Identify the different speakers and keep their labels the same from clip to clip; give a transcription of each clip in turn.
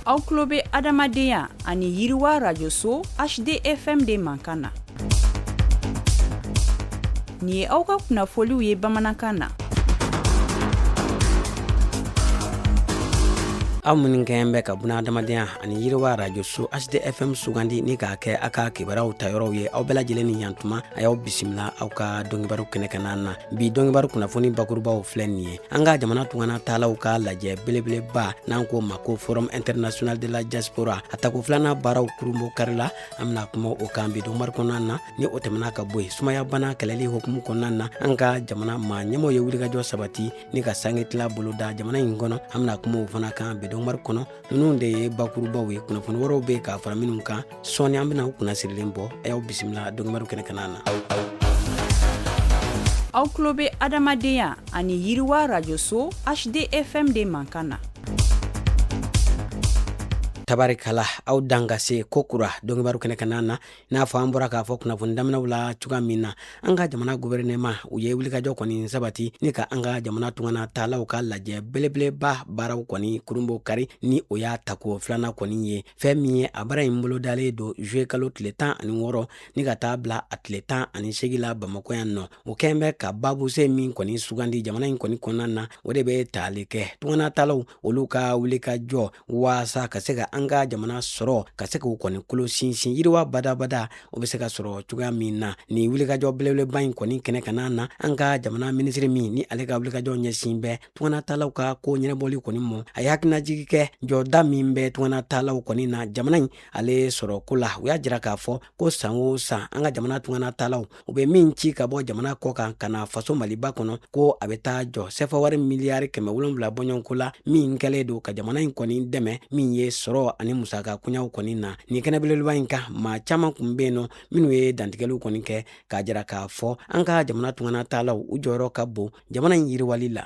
Speaker 1: aw tulo bɛ adamadenya ani yiriwa rajoso hdfm de mankan na nin ye aw ka kunnafoliw ye bamanankan na
Speaker 2: aw minnu kɛɲɛ bɛ ka buna adamadenya ani yiriwa rajoso hdfm sugandi ni k'a kɛ aw ka kibaruyaw ta yɔrɔw ye aw bɛɛ lajɛlen ni yantuma a y'aw bisimila aw ka dɔnkibaru kɛnɛ kana na bi dɔnkibaru kunnafoni bakurubaw filɛ nin ye an ka jamana tungana taalaw ka lajɛ belebeleba n'an k'o ma ko forum international de la diaspora a tako filanan baaraw kurunbo karila an bɛna kuma o kan bi dɔnkibaru kɔnɔna na ni o tɛmɛna ka bɔ yen sumaya bana kɛlɛli hokumu kɔnɔna na an ka jamana maa ɲɛmɔgɔw ye wulikajɔ sabati ni ka sange tila boloda jamana in kɔnɔ an bɛna kuma o fana kan bi dɔnkibaru kɔnɔ ninnu de ye bakurubaw ye kunnafoni wɛrɛw bɛ yen ka fara minnu kan sɔɔni an bɛna aw kunna sirilen bɔ a y'aw bisimila dɔnkibaru kɛnɛ kana na
Speaker 1: aw tulo bɛ adamadenya ani yiriwa rajoso hdfm de mankan
Speaker 2: na tabarikala aw danga se kokura dɔnkibaru kɛnɛ kana na n'a fɔ an bɔra k'a fɔ kunnafoni daminɛw la cogoya min na an ka jamana guvɛrɛnɛma u ye wulikajɔ kɔni sabati ni ka an ka jamana tungana taalaw ka lajɛ belebeleba baaraw kɔni kurunbo kari ni o y'a tako filanan kɔni ye fɛn min ye a baara in bolodalen don zuye kalo tile tan ani wɔɔrɔ ni ka taa bila a tile tan ani segin la bamakɔ yan nɔ o kɛlen bɛ ka baabu sen min kɔni sugandi jamana in kɔni kɔnɔna na o de bɛ tali kɛ tungana taalaw olu ka wulikajɔ waasa ka se ka an ka jamana sɔrɔ ka se k'u kɔni kolo sinsin yiriwa badabada o bɛ se ka sɔrɔ cogoya min na ni wulikajɔ belebeleba in kɔni kɛnɛ kana na an ka jamana minisiri min ni ale ka wulikajɔ ɲɛsin bɛ tungana taalaw ka ko ɲɛnabɔli kɔni mɔ a ye hakilinajigi kɛ jɔda min bɛ tungana taalaw kɔni na jamana in ale sɔrɔ ko la u y'a jira k'a fɔ ko san o san an ka jamana tungana taalaw u bɛ min ci ka bɔ jamana kɔ kan ka na faso maliba kɔnɔ ko a bɛ taa jɔ sɛfawari miliyari kɛmɛ wolonwula bɔɲɔgɔnko la min kɛlen don ka jamana in kɔni dɛmɛ min ye sɔrɔ ani musaka koɲaw kɔni na nin kɛnɛ belebeleba in kan maa caman kun bɛ yen nɔ minnu ye dantigɛliw kɔni kɛ k'a jira k'a fɔ an ka jamana tungana taalaw u jɔyɔrɔ ka bon jamana in yiriwali la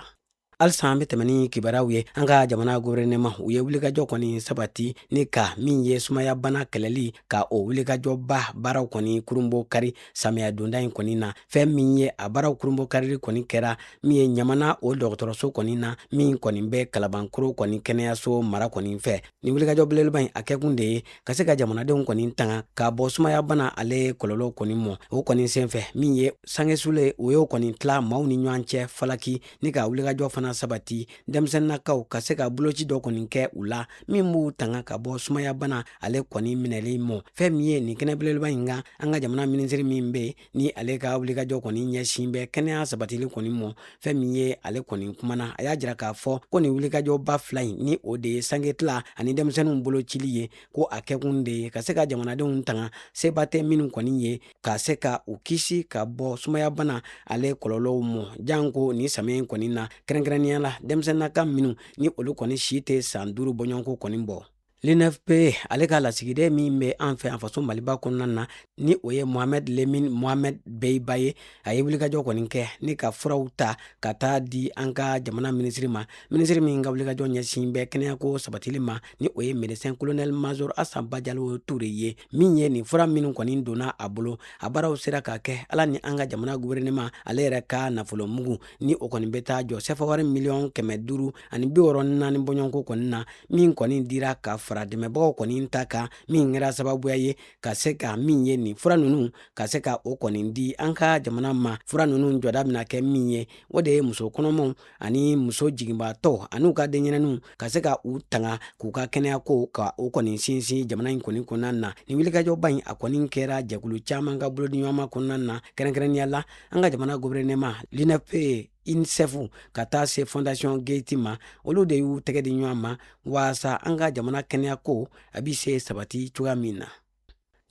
Speaker 2: halisa an bɛ tɛmɛ ni kibaruyaw ye an ka jamana guvɛrɛnɛma u ye wulikajɔ kɔni sabati ni ka min ye sumaya bana kɛlɛli ka o wulikajɔba baaraw kɔni kurunbo kari samiya donda in kɔni na fɛn min ye a baaraw kurunbo karili kɔni kɛra min ye ɲamana o dɔgɔtɔrɔso kɔni na min kɔni bɛ kalabankoro kɔni kɛnɛyaso mara kɔni fɛ ni wulikajɔ belebeleba in a kɛkun de ye ka se ka jamanadenw kɔni tanga ka bɔ sumaya bana ale kɔlɔlɔw kɔni mɔ o kɔni senfɛ min ye sange sulen u y'o kɔni tila maaw ni ɲɔgɔn cɛ falaki ni ka wulikajɔ fana sabati denmisɛnninakaw ka se ka boloci dɔ kɔni kɛ u la min b'u tanga ka bɔ sumayabana ale kɔni minɛli mɔ fɛn min ye nin kɛnɛ belebeleba in kan an ka jamana minisiri min bɛ yen ni ale ka wulikajɔ kɔni ɲɛsin bɛ kɛnɛya sabatili kɔni mɔ fɛn min ye ale kɔni kumana a y'a jira k'a fɔ ko nin wulikajɔba fila in ni o de ye sange tila ani denmisɛnninw bolocili ye ko a kɛkun de ye ka se ka jamanadenw tanga seba tɛ minnu kɔni ye ka se ka u kisi ka bɔ sumayabana ale kɔlɔlɔw mɔ janko nin samiya in kɔni na kɛrɛnkɛrɛnnenya la denmisɛnninnaka minnu ni olu kɔni si tɛ san duuru bɔɲɔgɔnko kɔni bɔ l'unfpa ale ka lasigiden min bɛ an fɛ an faso maliba kɔnɔna na ni o ye mohamɛd lemin mohamɛd beyiba ye a ye wulikajɔ kɔni kɛ ni ka furaw ta ka taa di an ka jamana minisiri ma minisiri min ka wulikajɔ ɲɛsin bɛ kɛnɛyako sabatili ma ni o ye médecin colonel major asa bajalo ture ye min ye nin fura minw kɔni donna a bolo a baaraw sera ka kɛ a la ni an ka jamana guvɛrɛnɛma ale yɛrɛ ka nafolomugu ni o kɔni bɛ taa jɔ sɛfawari miliyɔn kɛmɛ duuru ani bi wɔɔrɔ naani bɔɲɔgɔnko kɔni na min kɔni dira ka fara dɛmɛbagaw kɔni ta kan min kɛra sababuya ye ka se ka min ye nin fura ninnu ka se ka o kɔni di an ka jamana ma fura ninnu jɔda bɛna kɛ min ye o de ye muso kɔnɔmaw ani muso jiginbaatɔ an'u ka denɲɛrɛninw ka se ka u tanga k'u ka kɛnɛyako ka o kɔni sinsin jamana in kɔni kɔnɔna na ni wulikajɔba in a kɔni kɛra jɛkulu caman ka bolodiɲɔgɔnma kɔnɔna na kɛrɛnkɛrɛnnenya la an ka jamana govɛrɛnɛma l'unfpa unicef ka taa se fondation gates ma olu de y'u tɛgɛ di ɲɔgɔn ma waasa an ka jamana kɛnɛyako a bi se sabati cogoya min na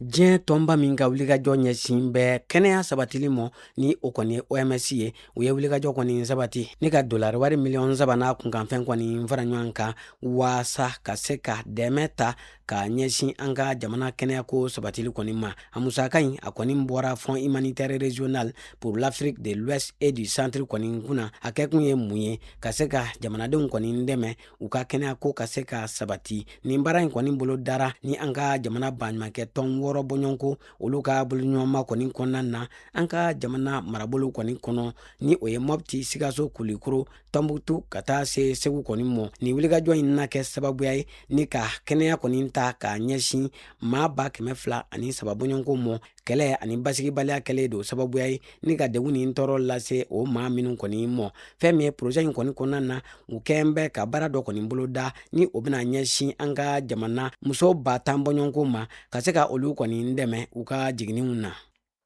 Speaker 2: diɲɛ tɔnba min ka wulikajɔ ɲɛsin bɛ kɛnɛya sabatili mɔ ni o kɔni ye oms ye u ye wulikajɔ kɔni sabati ni ka dolari wari miliyɔn saba n'a kunkanfɛn kɔni fara ɲɔgɔn kan waasa ka se ka dɛmɛ ta ka ɲɛsin an ka jamana kɛnɛyako sabatili kɔni ma a musaka in a kɔni bɔra fonds humanitaire régional pour l'afrique de l'ouest et du centre kɔni kunna a kɛkun ye mun ye ka se ka jamanadenw kɔni dɛmɛ u ka kɛnɛyako ka se ka sabati nin baara in kɔni bolodara ni an ka jamana baɲumankɛtɔn wɔɔrɔ bɔɲɔgɔnko olu ka boloɲɔgɔnma kɔni kɔnɔna na an ka jamana marabolow kɔni kɔnɔ ni o ye mɔpti sikaso kulikoro tɔnbukutu ka taa se segu kɔni mɔ nin wulikajɔ in na kɛ sababuya ye ni ka kɛnɛya kɔni ta k'a ɲɛsin maa ba kɛmɛ fila ani saba bɔɲɔgɔnko mɔ kɛlɛ ani basigibaliya kɛlen don sababuya ye ni ka degun ni tɔɔrɔ lase o maa minnu kɔni mɔ fɛn min ye porozɛ in kɔni kɔnɔna na u kɛn bɛ ka baara dɔ kɔni boloda ni o bɛna ɲɛsin an ka jamana muso ba tan bɔɲɔgɔnko ma ka se ka olu kɔni dɛmɛ u ka jiginniw na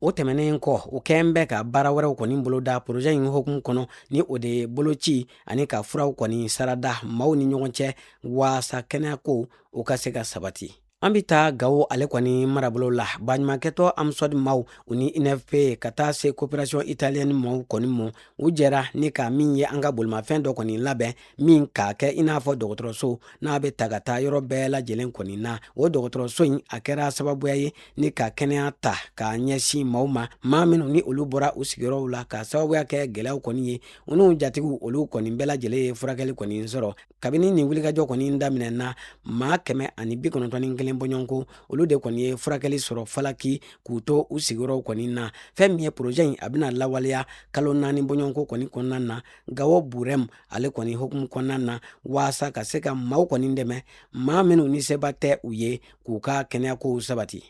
Speaker 2: o tɛmɛnen kɔ u kɛn bɛ ka baara wɛrɛw kɔni boloda porozɛ in hokumu kɔnɔ ni o de ye boloci ani ka furaw kɔni sarada maaw ni ɲɔgɔn cɛ waasa kɛnɛyako o ka se ka sabati an bɛ taa gawo ale kɔni marabolo la baɲumankɛtɔ amsɔdi maw u ni infp ka taa se coopération italienne maw kɔni ma u jɛra ni ka min ye an ka bolimafɛn dɔ kɔni labɛn min k'a kɛ i n'a fɔ dɔgɔtɔrɔso n'a bɛ ta ka taa yɔrɔ bɛɛ lajɛlen kɔni na o dɔgɔtɔrɔso in a kɛra sababuya ye ni ka kɛnɛya ta k'a ɲɛsin maw ma maa minnu ni olu bɔra u sigiyɔrɔw la ka sababuya kɛ gɛlɛyaw kɔni ye u n'u jatigiw olu kɔni bɛɛ lajɛlen ye furakɛli kɔni sɔrɔ kabini nin wulikajɔ kɔni daminɛ na maa kɛmɛ ani bi kɔnɔntɔn ni kelen bɔɲɔgɔnko olu de kɔni ye furakɛli sɔrɔ falaki k'u to u sigiyɔrɔw kɔni na fɛn min ye porozɛ in a bɛna lawaleya kalo naani bɔɲɔgɔnko kɔni kɔnɔna na gawo burɛm ale kɔni hokumu kɔnɔna na waasa ka se ka maaw kɔni dɛmɛ maa minnu ni seba tɛ u ye k'u ka kɛnɛyakow sabati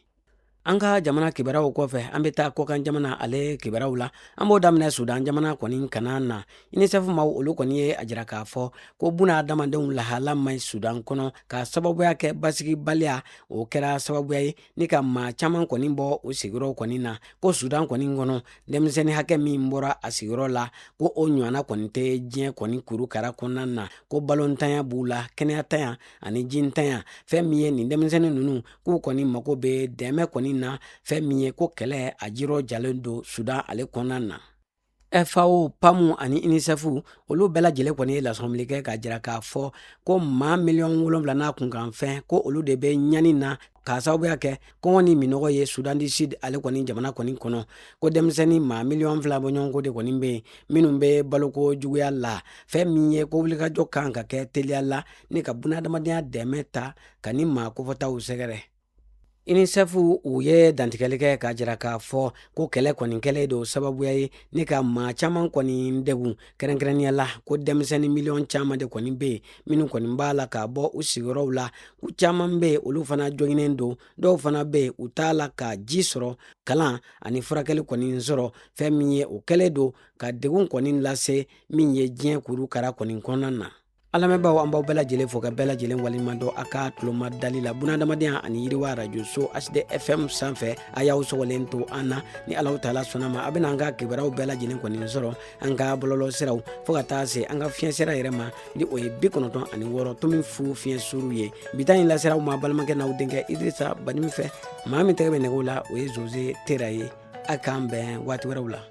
Speaker 2: an ka jamana kibaruyaw kɔfɛ an bɛ taa kɔkan jamana ale kibaruyaw la an b'o daminɛ sudan jamana kɔni kana na unicef maw olu kɔni ye a jira k'a fɔ ko bunadamadenw lahala man ɲi sudan kɔnɔ ka sababuya kɛ basigibaliya o kɛra sababuya ye ni ka maa caman kɔni bɔ u sigiyɔrɔw kɔni na ko sudan kɔni kɔnɔ denmisɛnnin hakɛ min bɔra a sigiyɔrɔ la ko o ɲɔgɔnna kɔni tɛ diɲɛ kɔni kurukara kɔnɔna na ko balontanya b'u la kɛnɛyatanya ani jintanya fɛn min ye nin denmisɛnnin ninnu k'u kɔni mago bɛ dɛmɛ kɔni na fɛn min ye ko kɛlɛ a juru jalen don sudan ale kɔnɔna na FAO, PAM ani UNICEF olu bɛɛ lajɛlen kɔni ye lasɔmili kɛ k'a jira k'a fɔ ko maa miliyɔn wolonwula n'a kunkanfɛn ko olu de bɛ ɲani na k'a sababuya kɛ kɔngɔ ni minɔgɔ ye sudan du sud ale kɔni jamana kɔni kɔnɔ ko denmisɛnnin maa miliyɔn fila bɔɲɔgɔnko de kɔni bɛ yen minnu bɛ baloko juguya la fɛn min ye ko wulikajɔ kan ka kɛ teliya la ni ka bunadamadenya dɛmɛ ta ka nin maa kofɔtaw sɛgɛrɛ UNICEF u ye dantigɛli kɛ k'a jira k'a fɔ ko kɛlɛ kɔni kɛlen don sababuya ye ni ka maa caman kɔni degun kɛrɛnkɛrɛnnenya la ko denmisɛnnin miliyɔn caman de kɔni bɛ yen minnu kɔni b'a la ka bɔ u sigiyɔrɔw la u caman bɛ yen olu fana joginnen don dɔw fana bɛ yen u t'a la ka ji sɔrɔ kalan ani furakɛli kɔni sɔrɔ fɛn min ye o kɛlen don ka degun kɔni lase min ye diɲɛ kurukara kɔni kɔnɔna na an lamɛnbaaw an b'aw bɛɛ lajɛlen fo ka bɛɛ lajɛlen waleɲumandɔn a ka tuloma dali la bunadamadenya ani yiriwa arajo so hdfm sanfɛ a y'aw sɔgɔlen to an na ni alahu taala sɔnna ma a bɛna an ka kibaruyaw bɛɛ lajɛlen kɔni sɔrɔ an ka bɔlɔlɔ siraw fo ka taa se an ka fiɲɛ sira yɛrɛ ma ni o ye bi kɔnɔntɔn ani wɔɔrɔ tomi fu fiɲɛ suru ye bi ta in laser'aw ma balimakɛ n'aw denkɛ idrisa banin fɛ maa min tɛgɛ bɛ nɛgɛw la o ye zoze tera ye a k'an bɛn waati wɛrɛw la